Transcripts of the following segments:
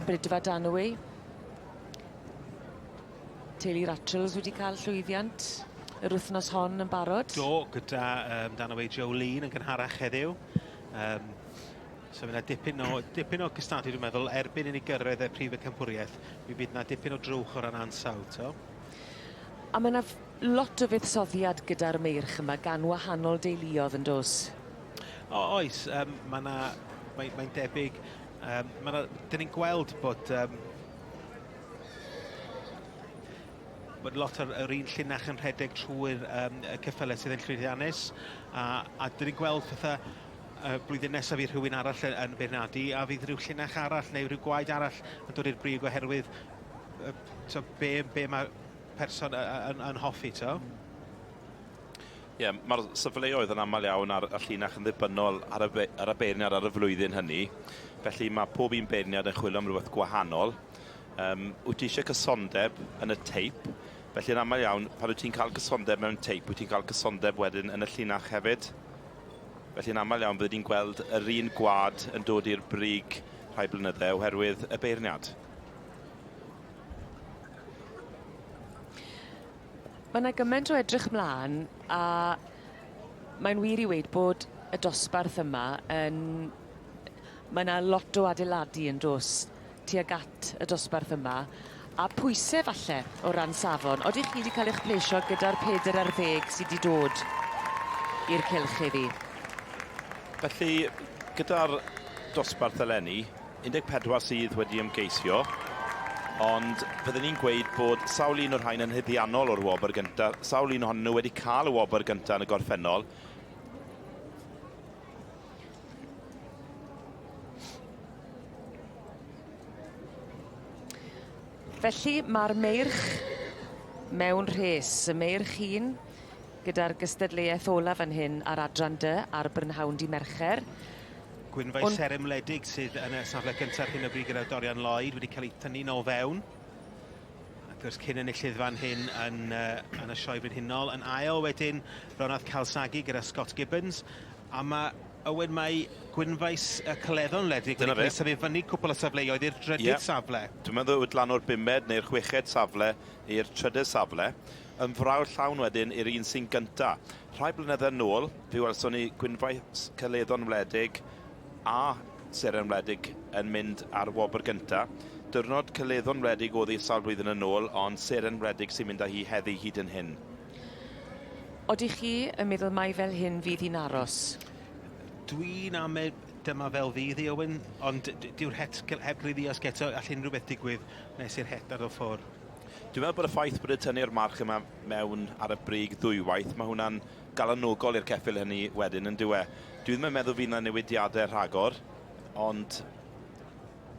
Brydfa Danwy. Teulu Ratchels wedi cael llwyddiant yr wythnos hon yn barod. Do, gyda um, Danwy Jolene yn gynharach heddiw. Um, so fyna dipyn o, dipyn o gystadu, dwi'n meddwl, erbyn i ni gyrraedd y prif y campwriaeth, mi fydd yna dipyn o drwch o ran ansawdd, to. A mae yna Lot o fuddsoddiad gyda'r meirch yma gan wahanol deuluodd yn dos? O, oes, um, mae yna, mae'n mae debyg, um, mae yna, dyn ni'n gweld bod um, bod lot o'r, or un llinach yn rhedeg trwy'r um, cyffylau sydd yn llwyddiannus, a, a dyn ni'n gweld pethau uh, blwyddyn nesaf i rhywun arall yn, yn beirniadu, a fydd rhyw llinach arall neu rhyw gwaed arall yn dod i'r brig oherwydd uh, so be, be mae person y- y- yn, yn hoffi to. Mm. Ie, yeah, mae'r safleoedd yn aml iawn ar y llinach yn ddibynnol ar y, be, ar y beirniad ar y flwyddyn hynny. Felly mae pob un beirniad yn chwilio am rhywbeth gwahanol. Um, wyt ti eisiau cysondeb yn y teip? Felly yn aml iawn, pan wyt ti'n cael cysondeb mewn teip, wyt ti'n cael cysondeb wedyn yn y llinach hefyd. Felly yn aml iawn, byddwn ni'n gweld yr un gwad yn dod i'r brig rhai blynyddau oherwydd y beirniad. Mae yna gymaint o edrych mlaen a mae'n wir i weud bod y dosbarth yma yn... Mae yna lot o adeiladu yn dos tuag at y dosbarth yma a pwysau falle o ran safon. Oeddech chi wedi cael eich plesio gyda'r peder ar ddeg sydd wedi dod i'r cylch heddi? Felly, gyda'r dosbarth eleni, 14 sydd wedi ymgeisio, ond fydden ni'n gweud bod sawl un o'r rhain yn hydiannol o'r wobr gyntaf, sawl un ohonyn nhw wedi cael y wobr gyntaf yn y gorffennol. Felly, mae'r meirch mewn rhes. Y meirch un Gyda'r gystadleuaeth olaf fan hyn ar Adran Dy ar brynhawn dydd Mercher. Gwynfau seremledig sydd yn y safle gyntaf ar hyn o bryd gyda Dorian Lloyd wedi cael ei thynnu'n ôl fewn. Ac wrth cyn enillydd fan hyn yn, uh, yn y Sioe Frenhinol. Yn ail wedyn, Ronald Calsagi gyda Scott Gibbons. A mae Owen, mae Gwynfaes y Cyleddo'n ledig wedi cael symud fyny cwpl o safleoedd i'r drydydd yeah. safle. Dwi'n meddwl yw dlan o'r bumed neu'r chweched safle i'r trydydd safle. Yn frawd llawn wedyn i'r un sy'n gynta. Rhai blynydde nôl, fe welson ni gwynfaes celeddon wledig a seren wledig yn mynd ar wobr gynta. Diwrnod celeddon wledig oddi sawl blwyddyn yn ôl, ond seren wledig sy'n mynd â hi heddi hyd yn hyn. Odych chi yn meddwl mai fel hyn fydd hi'n aros? Dwi'n ame dyma fel fydd hi, Owen, ond dyw'r het heb gliriasg eto, all unrhyw beth digwydd nes i'r het daro ffwr. Dwi'n meddwl bod y ffaith bod wedi tynnu'r march yma mewn ar y brig ddwywaith, mae hwnna'n galonogol i'r ceffyl hynny wedyn yn dywe. Dwi ddim yn meddwl fydd yna newidiadau rhagor, ond...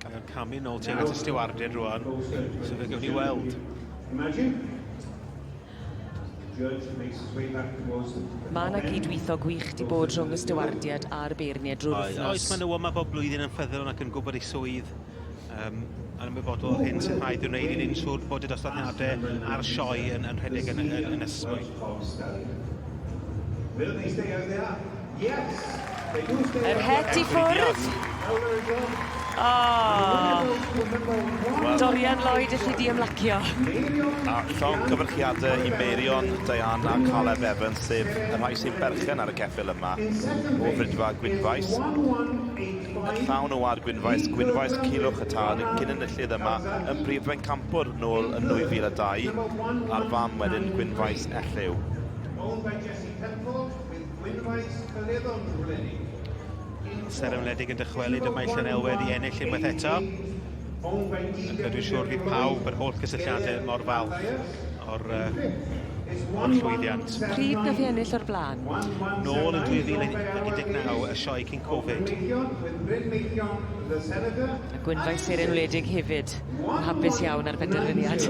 Mae o'n camu nôl tuag at y stiwardydd rwan, so fe gewn ni weld. Mae 'na gyd-weithio gwych 'di bod rhwng y stiwardiaid a'r beirniaid drwy'r wythnos. Oes, oes, maen nhw yma bob blwyddyn yn ffyddlon ac yn gwybod eu swydd um, yn ymwybodol o'r hyn sy'n rhaid i'w wneud i wneud siŵr bod y dosbarthiadau a'r sioe yn, yn rhedeg yn, yn, yn ysgwydd. Will they stay out there? Yr het i ffwrdd. O! Dorian Lloyd elli di ymlacio. A llong cyfarchiade i Meirion, Diane a Caleb Evans sef y rhai sy'n berchen ar y ceffyl yma o Frydfa Gwynfaes. Yn llawn o wad Gwynfaes, Gwynfaes Culhwch y tad yn cyn-enillydd yma yn brif bencampwr nôl yn 2002 a'r fam wedyn Gwynfaes Elliw. Gwynfaes Caledon Gwledig. Seren Wledig yn dychwelyd y mae Llanelwedd i ennill unwaith eto. Ac dwi'n siŵr fydd pawb, yr holl gysylltiadau mor falch o'r uh, o'r llwyddiant. Pryd na fi ennill o'r blaen? Nôl yn 2019, y sioe cyn Covid. A Gwynfa i Seren Wledig hefyd, yn hapus iawn ar benderfyniad.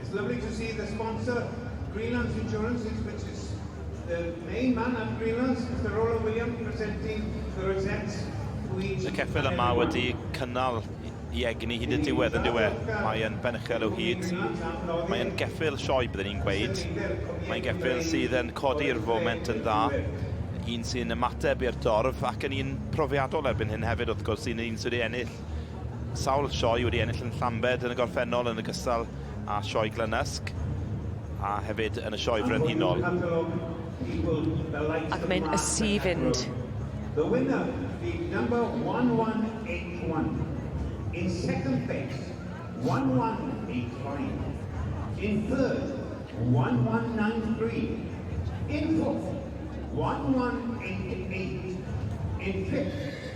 It's lovely to see the sponsor, Greenlands Insurance, which is the main man at Greenlands, Mr Roland Williams, presenting the rosettes to each... Y ceffyl yma wedi cynnal i egni hyd y diwedd yn diwe. Mae'n benchel o hyd. Mae'n geffyl sioe, byddwn ni'n gweud. Mae'n geffyl sydd yn codi'r foment yn dda. Un sy'n ymateb i'r dorf ac yn un profiadol erbyn hyn hefyd, wrth gwrs, sy'n un sydd wedi ennill sawl sioe wedi ennill yn Llambed yn y gorffennol yn y gystal a sioe Glynysg a hefyd yn y sioe frenhinol. Ac mae'n ysu fynd. The winner being number 1181. In second place, 1185. In third, 1193. In fourth, 1188. In fifth,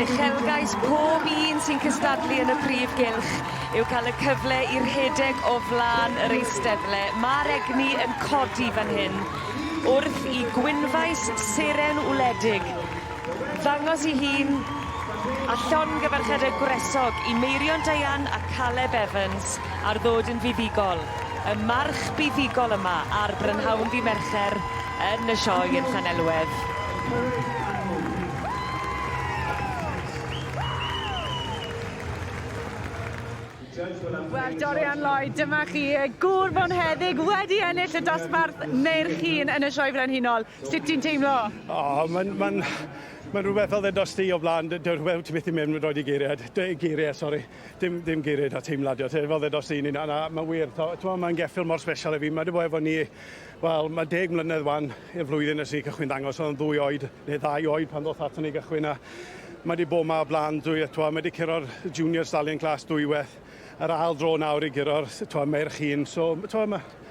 Uchelgais pob un sy'n cystadlu yn y prif gylch yw cael y cyfle i rhedeg o flan yr eisteddle. Mae'r egni yn codi fan hyn wrth i gwynfais seren wledig ddangos i hun a llongyfarchiadau gwresog i Meirion Diane a Caleb Evans ar ddod yn fuddugol. Y march buddugol yma ar brynhawn ddydd Mercher yn y Sioe yn Llanelwedd. Wel, Dorian Lloyd, dyma chi, y gŵr fonheddig wedi ennill y dosbarth Meirch un yn y Sioe Frenhinol. Sut ti'n teimlo? O, oh, mae'n... Mae'n... Mae'n rhywbeth oedd e dros ti o blaen, rhywbeth ti methu mynd roi i geiriau, geiriau, sori. Dim, dim geiriau da teimlad yw, fel ddedos i, na, na, mae'n wir, twa, mae'n geffil mor special i fi, mae wedi bod efo ni, wel, mae deg mlynedd wan, i'r flwyddyn nes i cychwyn dangos, oedd yn ddwy oed, neu ddau oed pan ddoth ato ni gychwyn, a mae wedi bod yma o blaen, dwi, twa, mae wedi curo'r junior stallion class dwywaith, yr ail dro nawr i guro'r, twa, merch un, so, twa, mae,